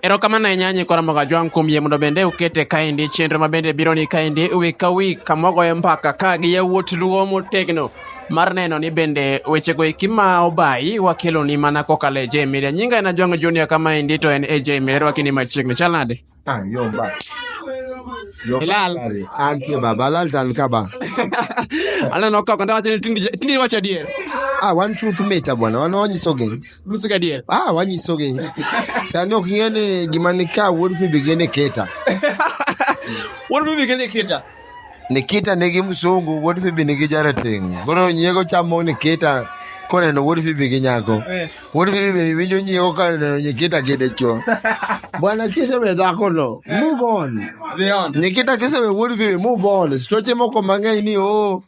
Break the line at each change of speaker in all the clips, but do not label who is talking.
Erokamano ahinya Nyiko Ramogi Ajwang' kuom yie mondo bende ukete kaendi chenro ma bende biro ni kaendi wik ka wik kama wagoye mbaka ka gi yawuot luo motegno mar neno ni bende wechego eki ma obayi wakeloni mana kokalo e J Media. Nyinga en Ajwang' Junior kamaendi to en AJ Media. Erwaki ni machiegni. Chal nade? Ah, yo ba.
Yo Hilal.
ba. Antie baba, lal tan
ka ba.
Aneno kaka ndawacho ni tindi tindi wacho adier. Ah, wan truth
meta bwana, wan wanyiso geng. Nyiso gadier. Ah,
wanyiso gi.
Sani ok ing'e ni gima ni ka wuod Fibi gi Nikita.
Wuod Fibi gi Nikita. Nikita
nigi msungu, wuod Fibi nigi jarateng'. Koro nyiego chamo Nikita koneno wuod Fibi gi nyako. Eh. Wuod Fibi be winjo nyiego koneno Nikita gi dichwo. Bwana kisewe dhako no, move on. Nikita kisewe wuod Fibi, move on. Stoche moko mang'eny ni oh.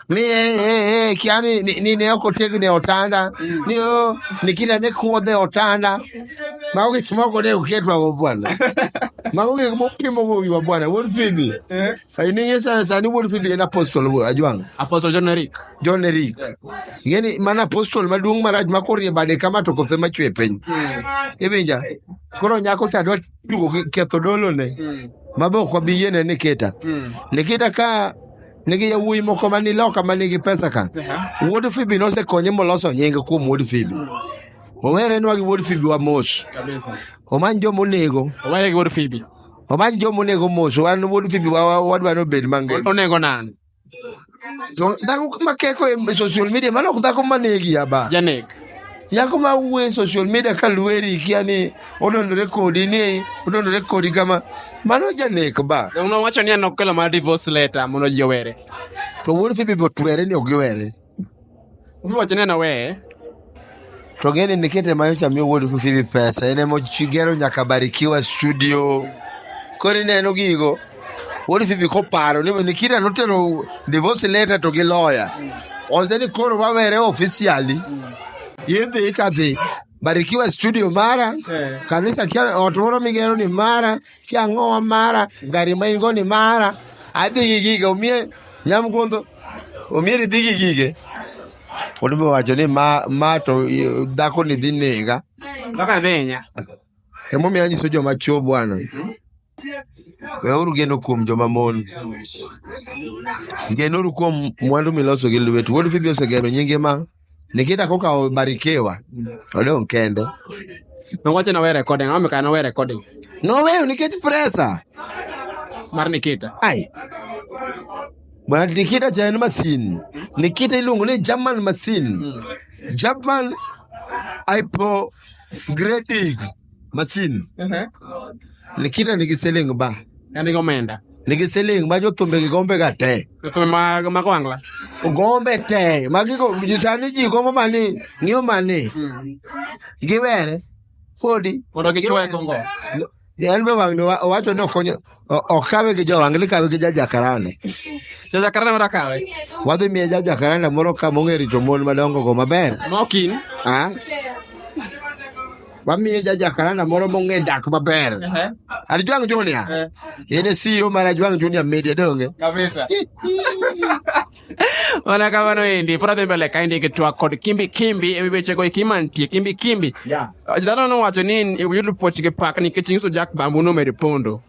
ni eh, eh, eh, kia ni ni ni ne ko tegu ne otanda ni o ni kila ne ko de otanda ma uke kimo ko ne uke twa go bwana ma uke kimo kimo go wi bwana won fidi eh ai ni yesa sa ni won fidi na apostle wo ajwang apostle john eric john eric yeni mana apostle maduong maraj ma korie bade kama to kothe ma chwe piny ibinja koro nyako cha dwa tugo gi ketho dolo ne mabe ok wabi yiene ni kita ni kita ka nigi yawuoyi moko ma ni loka ma nigi pesa ka wuod fibi nosekonye moloso nyinge kuom wuod fibi owerenwa gi wuod fibi wa mos Kabisa. omany
joma onego
Owere gi wuod Fibi.
omany joma onego
mos wan wuod fibi wa- wa- wadwa ni obed mangima Onego nani?
To
dhako ma keko e social media mano ok dhako ma negi aba Janek.
Nyako ma
wuoye social media ka lweri kia ni odondore kodi ni odondore kodi kama mano janek ba. Donge nowacho ni an okelo
mana divorce letter mondo ji owere. To wuod Phoebe
be otwere ni ok giwere. Owacho
ni an aweye. To
gini nikete ma nyocha miyo wuod Phoebe pesa en ema ogero nyaka Barikiwa studio. Koro ineno gigo. What if ibi koparo ni Nikita notero divorce letter to gi lawyer. Ose ni koro wawere officially. Yidhi itadhi. Barikiwa studio mara, kanisa kia ot moro migero ni mara, kia ang'owa mara, gari ma in go ni mara. Adhi gi gige, omie nyamgundo, omie ni dhi gi gige. Pod be wacho ni ma, ma to eh, dhako ni dhi nega. Kaka dhenya.
Emomiyo
anyiso joma chwo bwana. Weuru geno kuom joma mon. Genuru kuom mwandu miloso gi lwetu. Wuod Fibi osegero nyinge ma Nikita kokawo Barikiwa odong' kende.
Nowacho na we recording, ang'o mikayo na we recording? Noweyo nikech
presa.
Mar Nikita. Ai.
Bwana Nikita cha en masin. Nikita iluongo ni German masin. German hypo grading masin Ehe. nikita nigi siling ba En gi omenda.
nigi siling ma
jothumbe gi gombe ga te Thumbe ma ma
gwangla. gombe te
ma gigo ji sani ji gombo mani ng'iyo mani giwere podi Mondo gichwe kongo.
Yaani baba
wang'ni wa- owacho ni okonyo o- okawe gi jowang' ni kawe gi jajakarane. Jajakarana
mara kawe. Wadhi miye
jajakarane moro ka mong'e rito mon madongo go maber. Mokin. Ah. Wamiye jajakarane moro mong'e dak maber. Ehe. Alijwang' Junior. Eh. Yene siro mara Jwang' Junior media donge. Kabisa.
mana kamano endi pod adhi mbele ka indiki twak kod kimbi kimbi ewi wechego eki mantie kimbi kimbi Yeah. dhano nowacho ni yudo puoch gi pak nikech inyiso jak bambu nomedo pondo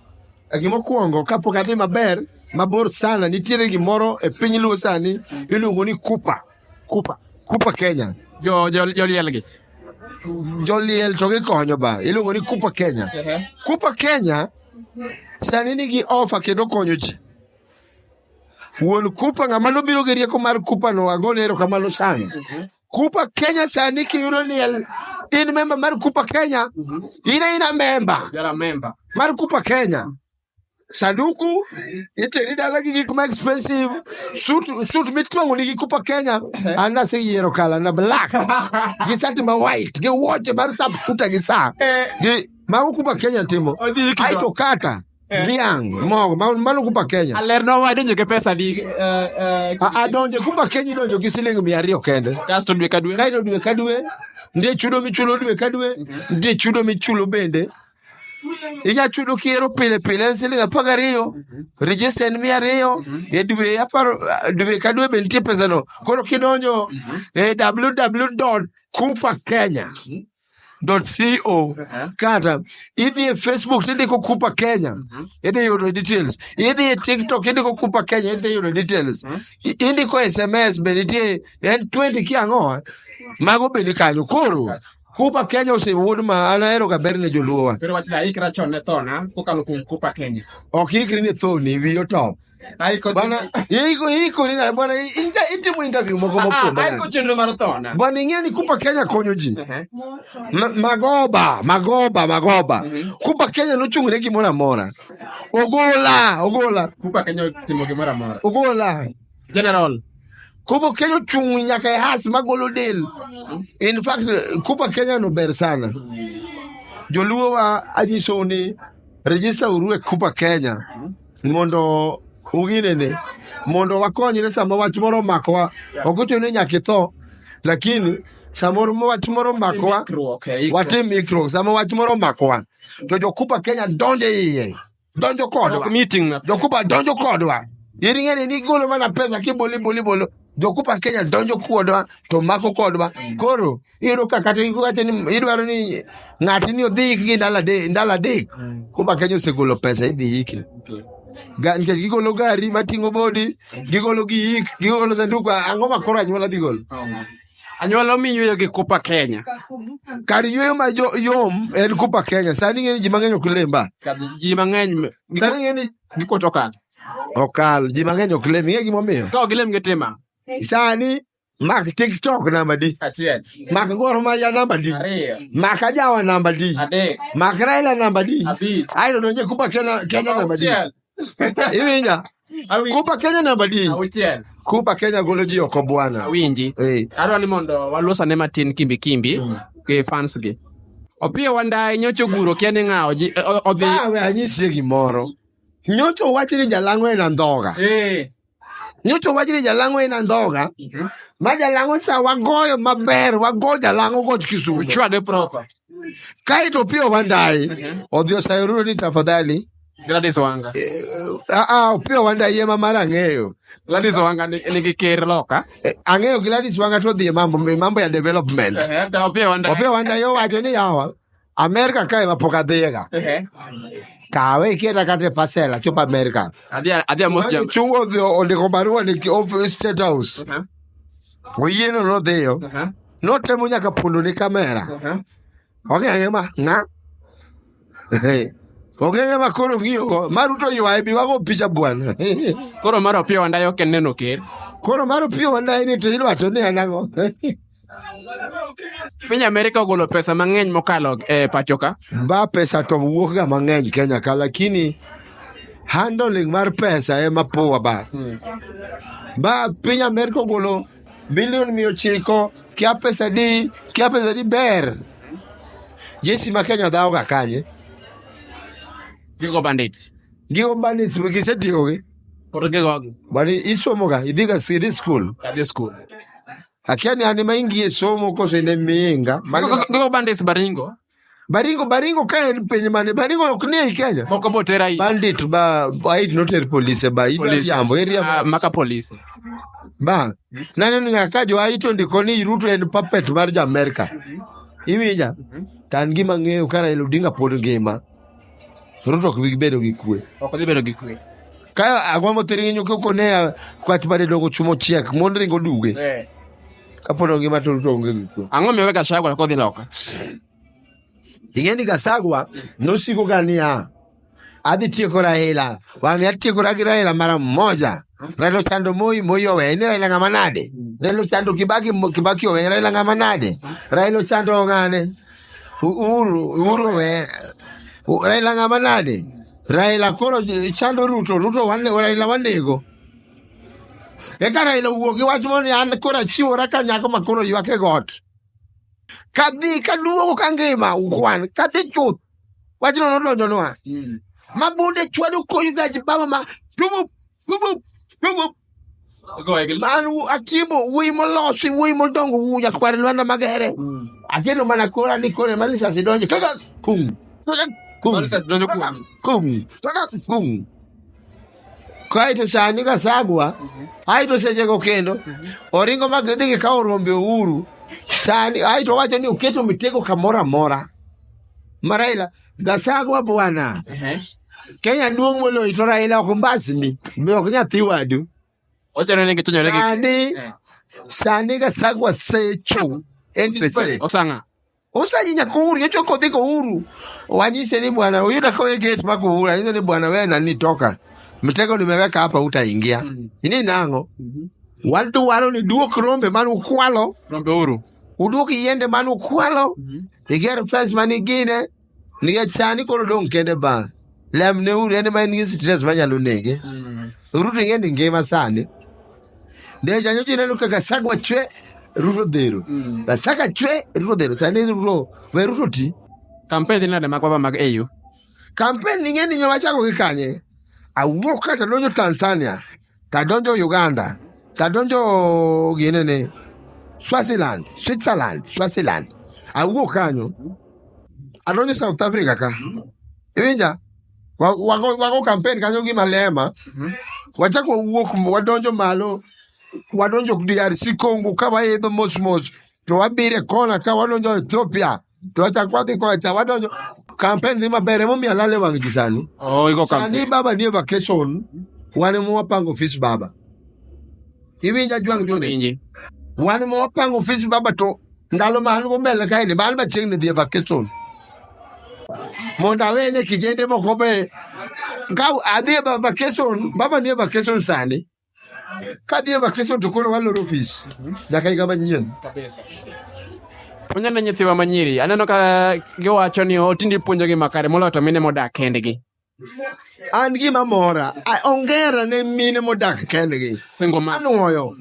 gimokwongo
kapok adhi maber mabor sana nitiere gimoro e piny luo sani iluongo ni kupa kupa kupa kenya Jo- jo- jolielgi joliel to gikonyo ba iluongo ni kupa kenya kupa kenya sani nigi ofa kendo konyo ji Wuon Kupa ng'ama nobiro gi rieko mar Kupa no agone erokamano sana. Mhm. Kupa Kenya sani kiyudo ni in memba mar Kupa Kenya, mhm. in aina memba mar
Kupa Kenya.
Sanduku iteri dala gi gik ma expensive suit suit mitwango ni gi Kupa Kenya mhm. ana se yiero kala na black gi sati ma white gi watch mar sub suit gi sa eh. gi ma Kupa Kenya timo. Aito kata Dhiang' mogo ma- mano kumba Kenya. alerna wade nyoke pesa
di eh, eh, A- Adonje
kumba Kenya idonjo gi siling mia ariyo kende. kasto dwe ka dwe Kaito
dwe ka dwe
nitie chudo michulo dwe ka dwe nitie chudo michulo bende inya chudo kiero pile pile en siling apar gariyo register en mia ariyo e dwe apar dwe ka dwe be nitie pesano koro kidonjo e www kupa kenya co kata idhi e facebook to indiko kupa kenya idhi yudo details idhi e tiktok indiko kupa kenya idhi yudo details I- indiko sms be nitie en 20 kiang'o mago be ni kanyo koro kupa kenya osewuod ma an aheroga ber ne joluowa Koro wach ni aikra chon
ne thona kokalo kuom Kupa Kenya. ok ikri ni thoni
wiyo top Haiko bwana iko iko ni na bwana inja itimu interview moko Ah, ah, moko bwana. haiko chenro mar thona.
Bwana ing'eni kupa Kenya
konyo ji. Ehe. Ma- Magoba, magoba, magoba. Kupa Kenya nochung'ne gimoro amora. Ogola, ogola, Kupa Kenya
timo gimoro amora. ogola.
General.
Kupa
Kenya ochung' nyaka e has magolo del. In fact, Kupa Kenya no ber sana. Joluo wa anyisou ni register uru e Kupa Kenya. mondo uginene mondo wakonyre sama wach moro omakowa ok ochuno ni nyaka itho lakini samoro wach moro omakowa watim ikruok sama wach moro omakowa to jokupa kenya donjo e iye donjo kodwa meeting na jokupa
donjo
kodwa in ing'eni ni igolo mana pesa kibolo ibolo ibolo jokupa kenya donjo kodwa to mako kodwa koro iyudo ka kata iwacho ni idwaro ni ng'ati ni odhi yik gi ndalo adek ndalo adek kumba kenya osegolo pesa idhi yike Ga- nikech gigolo gari mating'o bodi gigolo gi yik gigolo sanduku ang'o ma koro anyuola dhi golo anyuola
omi yueyo gi kupa kenya kar yueyo
ma jo- yom en kupa kenya sani ng'e ni ji mang'eny ok lemba ji mang'eny
sani ng'e ni
gikot okal
okal
ji mang'eny ok lem ing'e gimomiyo ka ok gilem gi tima
sani
Mak TikTok namba di. Achiel. Mak
Gor Mahia
namba di. Ariyo. Mak Ajawa
namba
di. Adek. Mak Raila
namba
di. Abich. Ayo donje
kupa Kenya
Kenya namba di. Iwinja. Kupa Kenya namba di. Auchiel. Kupa
Kenya golo
ji oko bwana. Awinji. Eh. Adwa
ni mondo walosane matin kimbi kimbi. Mm. Ke fans gi. Opiyo wandaye nyocho guro kia ni ng'awo ji odhi. Awe anyisie
gimoro. Nyocho wachi ni jalang'o en andhoga. Eh. Nyocha owach ni jalang'o en andhoga ma jalang'o cha wagoyo maber wago jalang'o goch kisumo Uchwade proper.
kaeto
piyo wandayi odhi osayo ruro ni tafadhali Gladys Wanga.
Ah, ah, opiyo
wandayi ema mar ang'eyo Gladys Wanga
ni- nigi ker loka. Eh, ang'eyo Gladys
Wanga to odhi e mambo e mambo ya development Hata opia wanda. opiyo
wandayi owacho
ni yawa Amerika kae ma pok adhiyega. Kawe iketa kata e parcel achop Amerika. Adhi adhi amos jam.
Chungo odhi ondiko
barua ni ki- of State House. Oyieno nodhiyo. Notemo nyaka pondo ni kamera. Ong'enge ma ng'a. Ong'enge ma koro ng'iyogo. Maruto ywaye bi wago picha bwana. Koro mar
opiyo wandayo ok en neno ker. Koro mar opiyo
wandaye ni to idwacho ni en ang'o?
Piny Amerika ogolo pesa mang'eny mokalo e pachoka. Ba pesa to
wuok ga mang'eny Kenya ka lakini handling mar pesa ema poa ba. Ba piny Amerika ogolo bilion mia ochiko kia pesa di kia pesa di ber. Jesi ma Kenya dhawo ga kanye.
Gigo bandits. Gigo bandits
gisetiyogi. Koro gigogi.
Bani isomoga
idhiga idhi skul. Kadhi skul.
akiani
ane maingie somo koso ine miinga ndiko bandis
baringo baringo baringo
ka en piny mane baringo ok ni ei kenya moko botera i bandit
ba
aid noter polise ba Police. iriambo Ah, iriambo maka polisi
ba
naneno nga ka jo aito ndiko ni ruto en puppet mar jo amerika iwinja tan gima ng'eyo ka raila odinga pod ngima Ruto ok bi bedo gi kwe. Ok dhi bedo gi kwe.
Ka agwa mo
tiri nyo ko ne kwach bade dogo chumo chiek mon ringo duge. Eh. Ka pono ngima to Ruto onge gi kwe. Ang'o miwe Gachagua ko dhi
loka?
Ing'e ni Gachagua nosiko ga niya adhi tieko Raila wang'e atiekora gi Raila mara moja Raila ochando Moi Moi oweye ni Raila ng'ama nade Raila ochando Kibaki Mo- Kibaki oweye Raila ng'ama nade Raila ochando ng'ane Uhuru, Uhuru we. U- Raila ng'ama nade? Raila koro j- chando Ruto, Ruto wane, Raila wanego. Eka Raila owuok gi wach moro ni an koro achiwora ka nyako ma koro ywak e got. Kadhi kaduogo ka ngima ukwan, kadhi chuth. Wachno nodonjonwa. Ma bunde chwado koyo gach baba ma tumo An atiemo wuoyi molosi, wuoyi modongo, wuoyi nyakwar Lwanda Magere. Akelo mana kora ni kora mana sasi donje. Kaka kum. Kaka kum. Marisa donjo Kaka kuomi. kum. Kaka kum. Kaito sani ka sagwa, aito sechego kendo, oringo ma gidhi gikawo rombe ouru. Sani aito wacho ni oketo mitego kamoro amora. Maraila Gasagwa bwana. Ehe. Kenya duong' moloyi to Raila ok mbasni. Be ok nyathi wadu. Ochano ni
gichonyore gi Sani Eh. sani
Gasagwa secho. En Seche. desperate. Osanga.
Usaji
nyakuru nyocho kodhi kohuru. Wanyise ni bwana uyuda kawe gate ma kohuru. Anyise ni bwana wewe nani toka. Mtego nimeweka hapa utaingia. Ini nango. Watu walo ni duok rombe manu kwalo. Rombe uru.
udwok yiende mane
ukwalo iger fes mane igine nikech sani koro dong' kende ba lemne uru en ma en gi stress manyalo nege ruto ing'e ni ngima sani de janyoji ineno kaka sagwa chwe ruto dhero Ba saka chwe ruto dhero sani ruto we ruto ti Kampen dhi nade
mag baba mag AU? kampen
ing'e ni nyo wachako gi kanye awuok kata donjo tanzania tadonjo uganda tadonjo ginene swaziland switzerland swaziland awuok kanyo adonjo south africa ka iwinja Wa- wago wago campaign kanyo gi malema wachako wawuok wadonjo malo wadonjo drc congo ka waidho mos mos to wabire kona ka wadonjo ethiopia To acha kwa dhi kocha wadonjo campaign dhi maber emomiyo alale wang' ji sani. Oh, iko Sani campaign.
baba nie vacation
wan ema wapango ofis baba. Iwinja jwang' jone. Winji. Wan ema wapango ofis baba to ndalo ma an go mbele kae ni bal machiegni dhi e vacation. Mondo awene kijende moko be ka adhi e va- vacation baba nie vacation sani. kadhi e vakeso to koro waloro ofis nyaka higa manyien
Onyaneno nyithiwa manyiri, aneno ka giwacho ni otindi puonjogi makare moloyo to mine modak kendgi. an
gima mora a- ongera ne mine modak kendgi Single man. anwoyo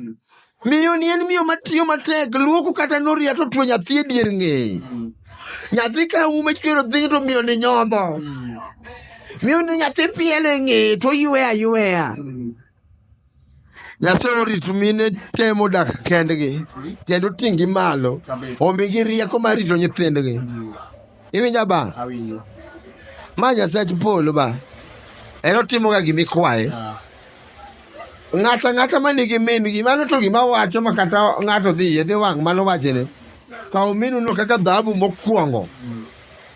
Miyo ni en miyo matiyo matek, luoko kata noria to tuo nyathi e dier ng'eye. Nyathi ka ume chwero dhi to miyo ni nyodho. Miyo ni nyathi pielo e ng'eye to oywe ayweya. Nyasaye orit mine temo dak kendgi kendo ting'gi malo omigi rieko mar rito nyithindgi. Iwinja ba? Awinjo.
Ma
Nyasach polo ba. En otimoga gima ikwaye. Ah. Ng'ata ng'ata ma nigi min gi mano to gima wacho ma kata ng'ato dhi yedhi wang' mano wachene. Kaw minu no kaka dhahabu mokwongo. Mm.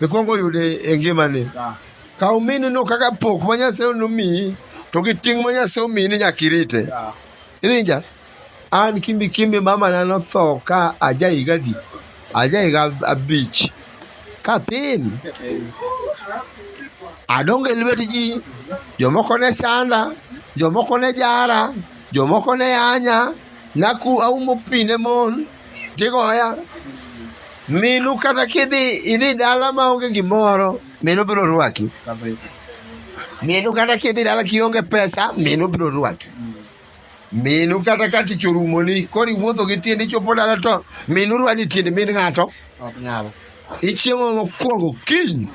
Ikwongo yude e ngimani. Ah. Kaw minu no kaka pok ma Nyasaye nomiyi to gi ting' ma Nyasaye omiyi ni nyaka irite. Ah. Iwinja? An kimbi kimbi mamana notho ka aja higa adi? Aja higa abich. Kathin, adongo e lwet ji, jomoko ne sanda, jomoko ne jara, jomoko ne anya, naku aumo pi ne mon, gigoya. Minu kata kidhi idhi dala maonge gimoro, minu biro rwaki. Minu kata kidhi dala kionge pesa, minu biro rwaki. minu kata ka tich orumoni koro iwuotho gi tiende ichopo dala to minu rwadi tiende min ng'ato ok nyal ichiemo mokwongo kiny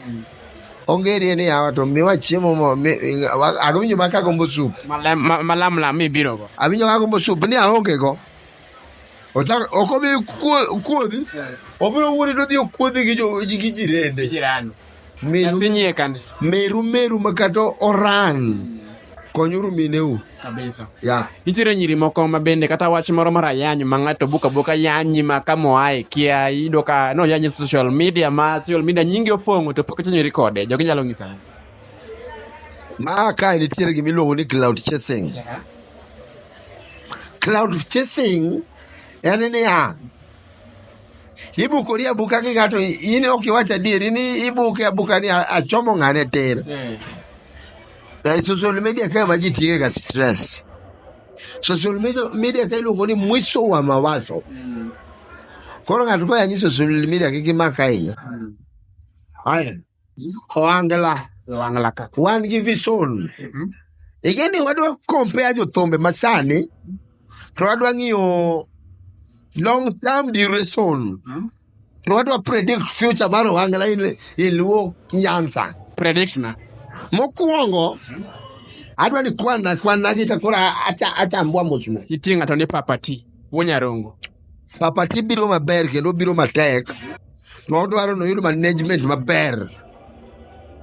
ongerie ni yawa to miwa chiemo mo mi- wa- awinjo ma kagombo sup Malam- ma- malamlam
mibirogo awinjo kagombo sup ni
aonge go Ochak- ok obi kuo- kuodhi obiro wuoni to odhi okuodhi gi jo- gi jirende jirani
Meru, Nyathi nyie kande. meru meru makato
oran. Konyuru mineu. Kabisa. Ya.
Nitiere
nyiri moko
ma bende kata wach moro mar ayany ma ng'ato buka buka yanyi ma ka moae kia iyudo ka no yanyi social media ma social media nyingi opong'o to pok ichanyori kode jogi nyalo ng'isa ang'o?
Ma kae nitiere gima iluongo ni cloud chasing. Cloud chasing en niya, ibukori abuka gi ng'ato in ok iwach adieri ni ibuke abuka ni achomo ng'ane tir eh. na e social media kae ma ji tiye ga stress social media kae iluongo ni mwiso wa mawazo mm. koro ng'ato koyanyi social media kik imak ahinya mm. Ohangla. Ohangla ka. Wan gi vision. Igeni wadwa compare jothumbe masani to wadwa ng'iyo long term duration. To wadwa predict future mar Ohangla in, in Luo Nyanza. Prediction.
Mokwongo
adwa ni kwana kwana gi to koro acha achambwa mos mos. Iting'a to ni papati.
Wuonyarongo. Papati
biro maber kendo obiro matek. To odwaro ni oyud management maber.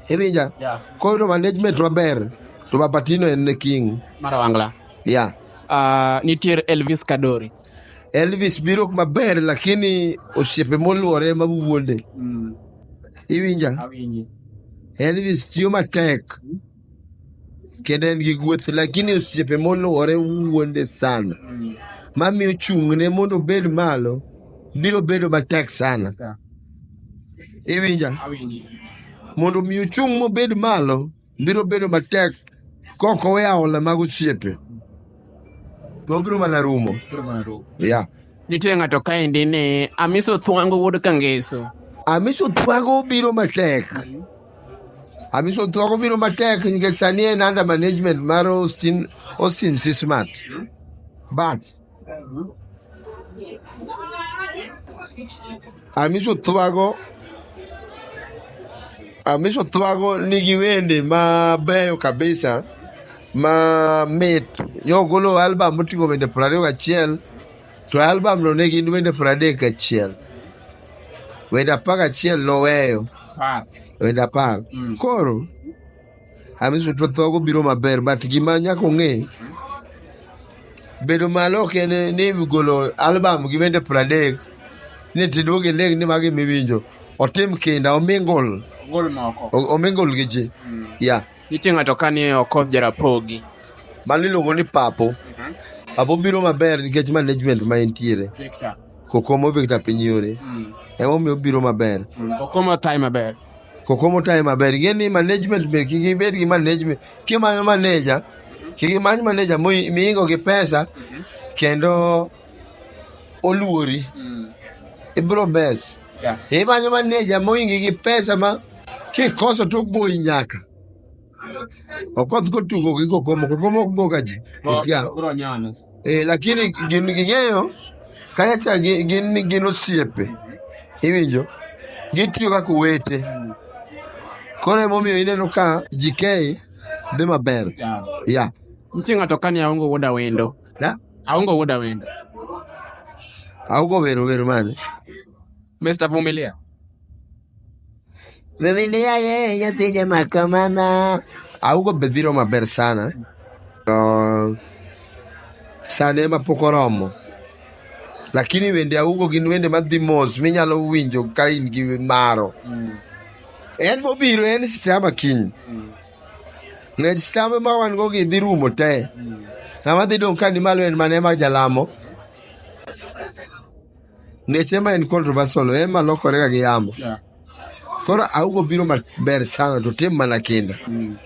Iwinja? Yeah. Koyudo
management
maber to Papatino en the king. Mara
wangla.
Yeah.
Uh,
nitiere
Elvis Kadori.
Elvis biro maber lakini osiepe moluore ema wuonde. Mm. Iwinja? Awinji.
Elvis
tiyo matek. kendo en gi gueth lakini osiepe moluwore wuonde sana mamiyo chung'ne mondo obed malo biro bedo matek sana iwinja
mondo mi
ochung' mobed malo biro bedo matek kok owe aola mag osiepe to obiro mana rumo ya Nitie ng'ato
kaendi ni Amiso Thwango wuod Kangeso. amiso thwago
biro matek Amiso thuoko biro matek nikech sani en under management mar Austin, Austin Sismat. But Amiso thuago Amiso thuago nigi wende mabeyo kabisa ma mit. Nyogolo album moting'o wende 21 To e albamno ne gin wende piero adek gachiel. Wende apar gachiel noweyo, Par. wende apar. Mm. Koro Hamisi to thogo biro maber, but gima nyaka ong'e bedo malo ok en ni golo albam gi wende piero adek ni tiduog iling ni magi miwinjo. Otim kinda, omingol, Gol moko. o- omingol gi ji. Mm. Yeah. Nitie ng'ato ka ni
Okoth Jarapogi. Mano iluongo
ni Papo. Mhm. Papo biro maber nikech management ma entiere. Victor. Kokomo Victor piny yore. Mm. Ema omiyo biro maber. Mm. Kokomo tayi
maber. Kokomo tayi
maber. Ing'e ni management ber kik ibed gi management. Kimanyo maneja, kik imany maneja miingo gi pesa mhm. kendo oluori mm. ibro mes yeah. imanyo maneja moingi gi pesa ma kikoso to goyi nyaka okoth kotugo gi kokomo kokomo ok goga ji yeah. eh, lakini gin ging'eyo kayacha gin gin osiepe iwinjo gitiyo kaka owete mm. koro emomiyo ineno ka jikei dhi maber yeah. yeah. nitie ng'ato
kani aongo wuoda wendo yeah. Aongo woda wendo.
Aongo wero wero mane? Mr.
Vumilia.
Vumilia ye yatija makamana. Aongo bebiro maber sana. Uh, sane ma pok oromo. Lakini wende augo gin wende madhi mos minyalo winjo ka in gi maro. Mm. En mobiro en sitama kiny. Mm. Nikech stambe ma wan go gi dhi rumo te. Ng'ama dhi dong' ka ni malo en mane ma jalamo. Nikech ema en controversial, ema lokore ga gi yamo. Yeah. Koro augo biro maber sana to tim mana kinda.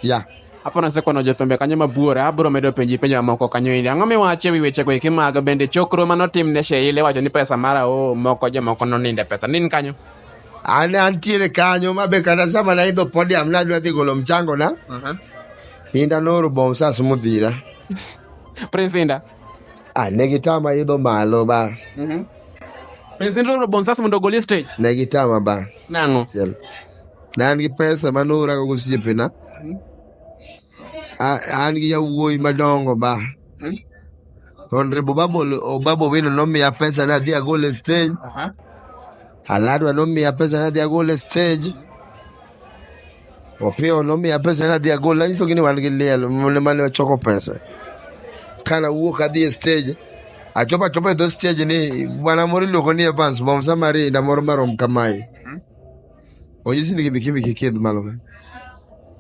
Ya. Hapo nasekono
jothumbe kanyo mabuora abiro medo penji penjo mamoko kanyo indi ang'o miwacho e wi wechego eki mag bende chokro manotim ne Sheila iwacho ni pesa mara o moko jomoko noninde pesa nin kanyo An antiere
kanyo ma be kata sama naidho podium nadwa dhi golo mchango na. Uh-huh. Inda noro bom sas mudhira.
Prince Inda. Ah, ne gitama
idho malo ba. Mhm.
Prince Inda noro bom sas mondo ogol e stage. Ne gitama ba.
Nango. Chiel.
Ne
an gi pesa ma norago gosiepena. Mhm. A- an gi yawuoyi madongo ba Honorable Obabo- Obabo Owino nomiya pesa nadhi agol e stage Aha. Aladwa nomiya pesa nadhi agol e stage Opiyo nomiya pesa nadhi agol nanyisogi ni wan gi liel mane mane ochoko pesa kana wuok adhi e stage achopo achopo e dho stage ni bwana moro iluongo ni Evans Bomsa Marinda moro marom kamae o ji sini kibi kibi kikid malo ka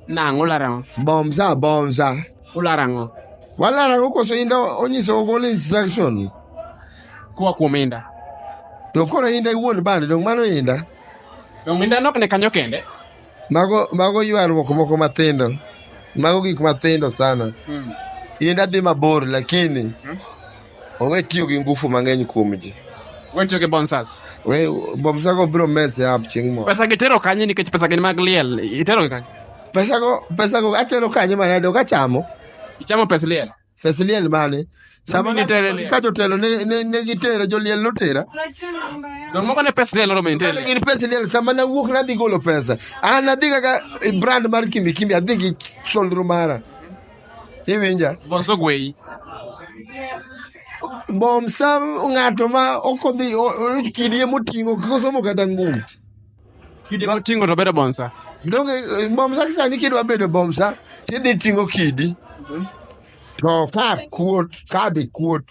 nang
ularango bom sa bom
sa ularango
walarango
koso inda onyiso ogol instruction
kuwa kuom inda to koro
inda iwuon bande dong mano inda dong inda
nok ne kanyo kende mago mago
ywaruok moko mathindo mago gik mathindo sana hmm. inda dhi mabor lakini hmm? Owe tiyo gi ngufu mang'eny kuom ji. We tiyo gi bonsas.
We bomsago
biro mese up chieng' moro. Pesa gi tero kanye nikech pesa
gin mag liel. Itero gi kanye? Pesa go, pesa
go atero kanye mana ayudo kachamo. Ichamo pes liel.
Pes liel mane?
Sama Mami nitere liel. ka jotelo
ne, ne,
ne gitera, joliel notera. Don
moko ne pes liel oromo intere. Gin pes liel, sama
nawuok nadhi golo pesa. An adhi kaka eh, brand mar Kimbi Kimbi, adhi gi solro mara. iwinja bonso gweyi bom sa ng'ato ma ok odhi o- o- kidie moting'o kik osomo kata ngum kidi
moting'o to bedo bonsa donge eh, bom
sa kisani kidwa bedo bom sa tidhi ting'o kidi to ka kuot ka be kuot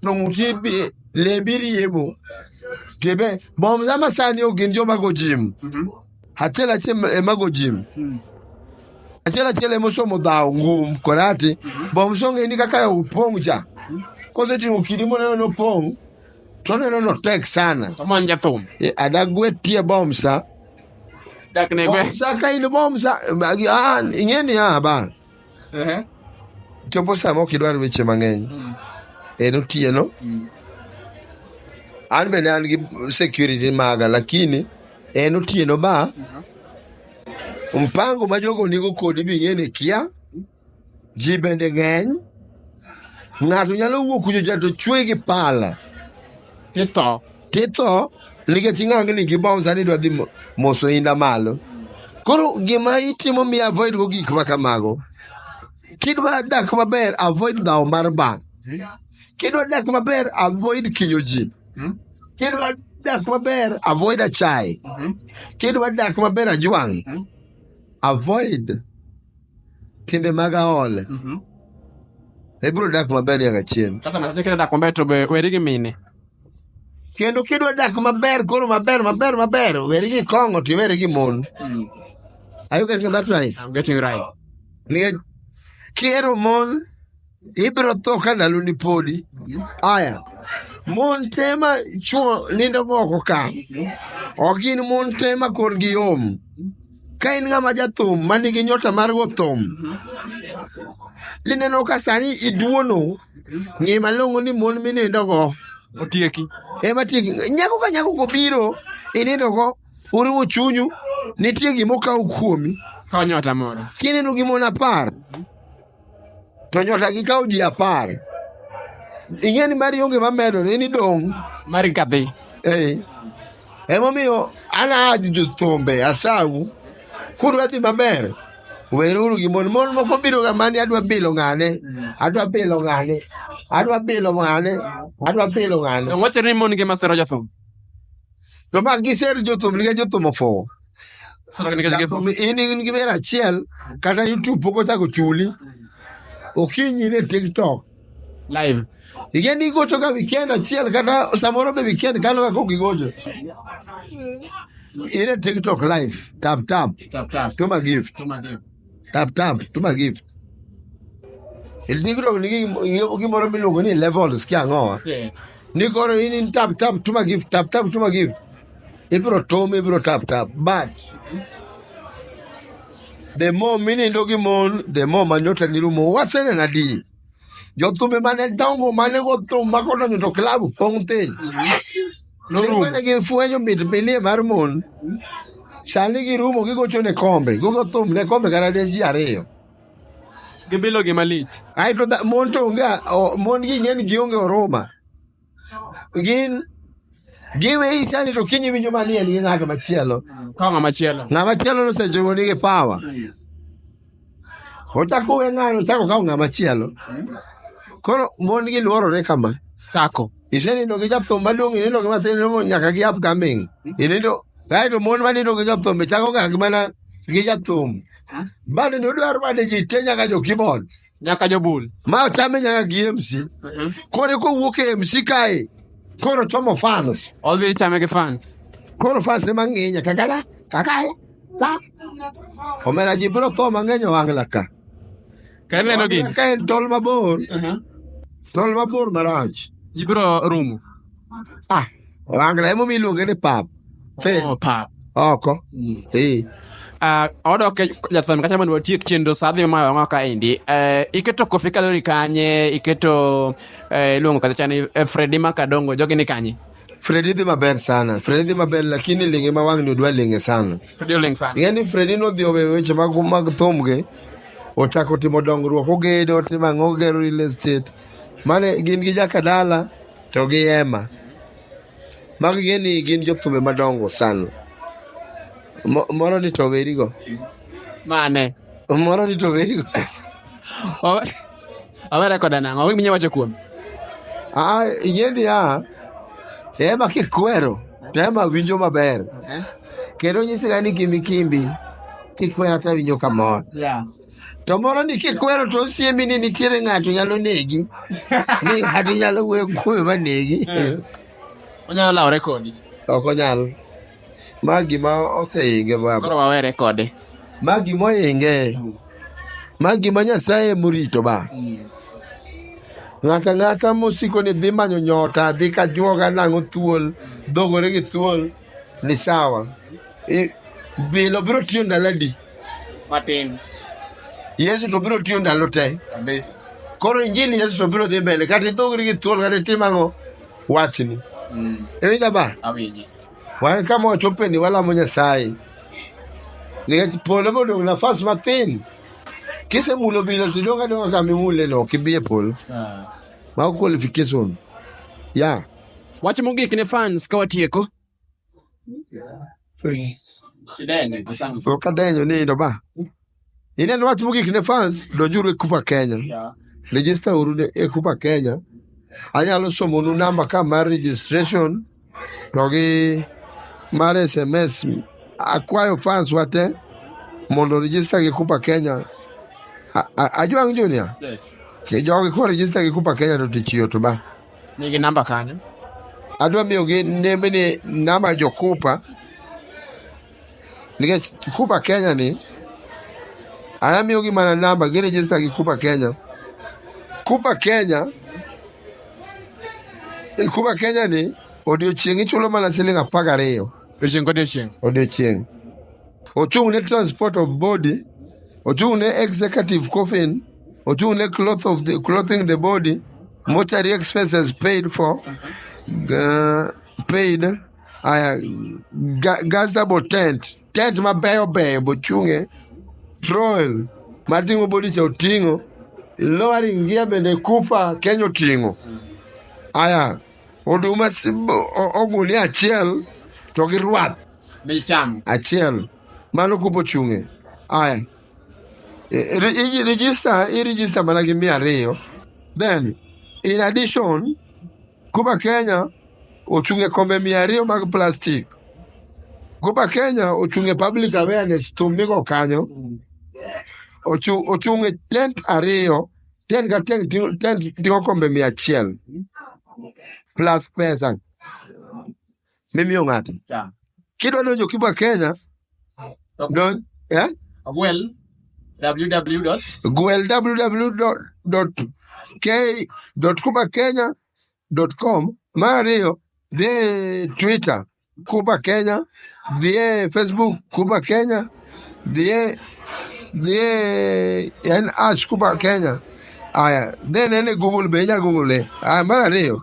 to ng'uti bi- lembi riemo tibe bom sa masani ok gin joma go jim achiel achiel emago jim achiel achiel ema osomo dhawo ngum korati bomsonge ni kaka opong' cha kosetimo kidi moneno nopong' to oneno notek sana Oman jathum. Eh,
adagwe tie
bomsa Dak
ne gwe. bomsa ka in bomsa
ah, ing'e ni ah, ba chopo sama ok idwar weche mang'eny mm. en otieno mm. an bende an gi security maga lakini en otieno ba uh-huh. mpango ma jogo nigo kodi bing'eni kia ji bende ng'eny ng'ato nyalo wuok kuchocha to chwe gi pala titho titho nikech ing'ang'ni gi bom sani idwa dhi mo- moso inda malo koro gima itimo mi avoid go gik ma kamago kidwa dak maber avoid dhawo mar bank kidwa dak maber avoid kinyo ji kidwa dak maber avoid achaye kidwa dak maber ajwang' avoid timbe mag aole ibiro dak maber nyaka chieng' Sasa na zikira da kwamba
to be weri gi mine. kendo
kidwa dak maber koro maber maber maber weri gi kong'o to iweri gi mon Mm. are you getting that right I'm getting right.
nikech
kiero mon ibiro tho ka ndalo ni podi aya mon te ma chuo nindo moko ka ok gin mon te ma korgi yom ka in ng'ama jathum ma nigi nyota mar go thum tineno ka sani iduono ng'e malong'o ni mon minindogo otieki
ema tieki
nyako ka nyako kobiro inindogo uriwo chunyu nitie gima okaw kuomi konyota moro
kineno gi mon apar
to nyota gi kawo ji apar ing'e ni mari onge mamedore ni dong' mari kadhi
eh. emomiyo
an aji jothumbe asau kudwa dhi maber weruru gi mon mon moko biro ga mani adwa bilo ng'ane adwa bilo ng'ane adwa bilo ng'ane
adwa bilo ng'ane wachore ni mon gi masero jothum to
ma giser jothum nikech jothum ofuwo Jathum, in in gi wer achiel kata youtube pok ochako chuli okinyi ne tiktok live
Iken igocho
ka weekend achiel kata samoro be weekend kalo ka kok igocho. Ine TikTok live, tap tap, tap tap to ma gift. to my dear Tap tap, tuma gift. Il TikTok ni gimoro miluongo ni levels kia ang'owa. Ni koro in in tap tap tuma gift, tap tap tuma gift. Ibiro tom, ibiro tap tap. But the more minindo gi mon, the more manyota ni rumo. Wasene na di. Jothumbe mane dongo mane go thum makodonjo to klabu pong' thich. Norumo. Mane gifwenyo mit bilie mar mon. Sani girumo gigocho ne kombe. Gogo thum ne kombe kata ne ji ariyo.
Gibilo gi malich. Aeto dha- mon to
onge o- mon gi ng'eny gionge oruma. Gin giweyi sani to kinyi winjo manie gi ng'ato machielo. Ka ng'ama chielo.
Ng'ama chielo nosechogo
nigi power. Ochako we ng'ano, ochako kawo ng'ama chielo. Koro mon gi luorore kama. Chako.
Isenindo gi japthum
maduong', inindo gi mathin, inindo nyaka gi upcoming. Inindo, kaeto mon manindo gi japthum, chako ga gi mana gi japthum. Bado ni udwaro bade ji te nyaka jo keyboard. Nyaka jobul.
Ma chame nyaka gi
MC. Koro kowuok e MC kae, koro chomo fans. Odhi chame gi
fans. Koro fans ema
ng'inya kakala, kakala. Omera ji biro tho mang'eny owang'la ka. Ka ineno
gini. Ka en tol mabor.
Tol mabor marach. Ji biro rumo.
Ah,
owang'la emomiyo iluonge ni pap. Oh, pap.
Oko.
Eh. Uh,
odok e jathon kacha mondo watiek chenro sa dhi ma wang'o ka endi uh, iketo kofi kalori kanye iketo uh, iluongo kacha ni uh, fredi makadongo jogi ni kanye Fredi dhi maber
sana. Fredi dhi maber lakini linge ma wang'ni odwa linge sana. Fredi oling sana. Ing'e ni Fredi nodhi owe weche mag mag thumge. Ochako timo dongruok ogedo otimo ang'o ogero real estate. Mane gin gi jakadala to gi Emma. Magi ing'e ni gin jothumbe madongo sana. Mo- Moro ni to werigo. Mane.
Moro ni
to werigo. O-
Awe rekoda nang'o? Ang'o minya wacho kuome? Ah,
ing'e niya, Rema kikwero, Rema winjo maber. Eh? Kendo nyisiga ni kimbi kimbi, kikwero to awinjo kamor. Yeah. To moro ni kikwero to osiemi ni nitiere ng'ato nyalo negi. Ni ng'ato nyalo wuoyo kuome ma negi.
Onyalo lawore kodi. Ok onyal.
Ma gima oseinge baba. Koro wawere kode.
Ma gima
oinge. Ma gima Nyasaye morito ba. Ng'ata ng'ata mosiko ni dhi manyo nyota, dhi ka juoga nang'o thuol, dhogore gi thuol, ni sawa. I- Bilo biro tiyo ndalo adi? Matin. Yesu to biro tiyo ndalo te. Kabisa.
Koro injili
Yesu to biro dhi mbele. Kata idhogri gi thuol kata itim ang'o, wachni. Mm. Iwinja ba? Awinji.
Wan ka
mwachope ni walamo Nyasaye. Nikech polo bodong' nafas mathin. Kisemulo bilo to idong' adong'a kama imuleno, ok ibi e polo. Mago qualification. Yeah. Wach
mogik ne fans ka watieko.
Okadenyo nindo ba. Ineno wach mogik ne fans, donjuru e Kupa Kenya. Register uru ne- e Kupa Kenya. Anyalo somonu namba ka mar registration to gi mar SMS. Akwayo fans wate mondo register gi Kupa Kenya. A- a- Ajwang' Junior, Yes. ki
jogi ko
register gi Kupa Kenya to tich yot ba. Nigi namba kanyo.
Adwa
miyogi nembene namba jokupa nikech Kikuba Kenya ni anamiyogi mana namba girejista gi Kuba Kenya. Kuba Kenya e Kuba Kenya ni odiochieng' ichulo mana siling' apar gariyo Odiochieng' kodiochieng'. odiochieng'. Ochung' ne transport of body, ochung' ne executive coffin, ochung' ne cloth of the, clothing the body, mortuary expenses paid for, uh, paid aya ga- gaza bo tent tent mabeyo beyo bochunge troel mating'o bodicha oting'o lowering gia bende kupa kenya oting'o aya oduma si- bo- o- ogunia achiel to gi rwath michamo achiel mano kupo chunge aya I- re- i- register i register mana gi mia ariyo then in addition Goba Kenya ochung' e kombe mia ariyo mag plastik. Goba Kenya ochung' e public awareness thum migo kanyo. Ochu- Ochung' e tent ariyo, tent ka tent ting- tent ting'o kombe mia achiel plus pesa. mimiyo ng'ato. Yeah. Kidwa donjo Cuba Kenya, don, eh? Gwel www. Gwel www.k.cubakenya.com. Mar ariyo, dhi e Twitter Cuba Kenya, dhi e Facebook Cuba Kenya, dhi e dhi e en ash Cuba Kenya. Aya, then ene Google be inya Google. Aya, mar ariyo,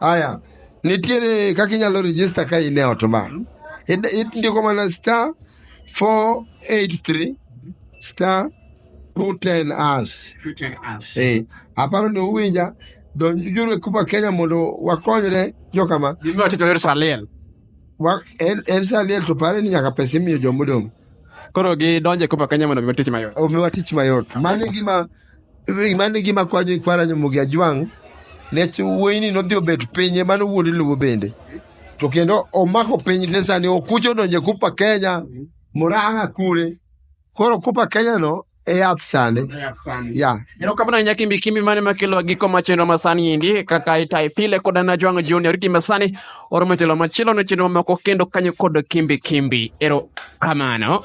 Aya,
nitiere kaka inyalo register ka in e ot ma. Id- id- Indiko mana star 483 star 210 ash. Eh, aparo ni uwinja donj juru e Kuba Kenya mondo wakonyre jokama. Gimiwa tito yor Saliel.
Wa- En
en saliel to pare ni nyaka pesa imiyo jomodong'. Koro
gidonje Kuba Kenya mondo mi tich mayot. Omiwa tich mayot.
Mano e gima mane gima kwanyo kwara nyomogi ajwang' nech wuoyini nodhi obet pinye mano wuod luwo bende to kendo omako piny te sani okuch odonje kupa kenya murang'a kure koro kupa kenya no e yath sani ya
erokamano ahinya kimbi kimbi mane makelo giko ma chenro ma sani endi kaka itai pile kod an ajwang' junior kima sani oromo telo machielo ne chenro mamoko kendo kanyo kod kimbi kimbi erokamano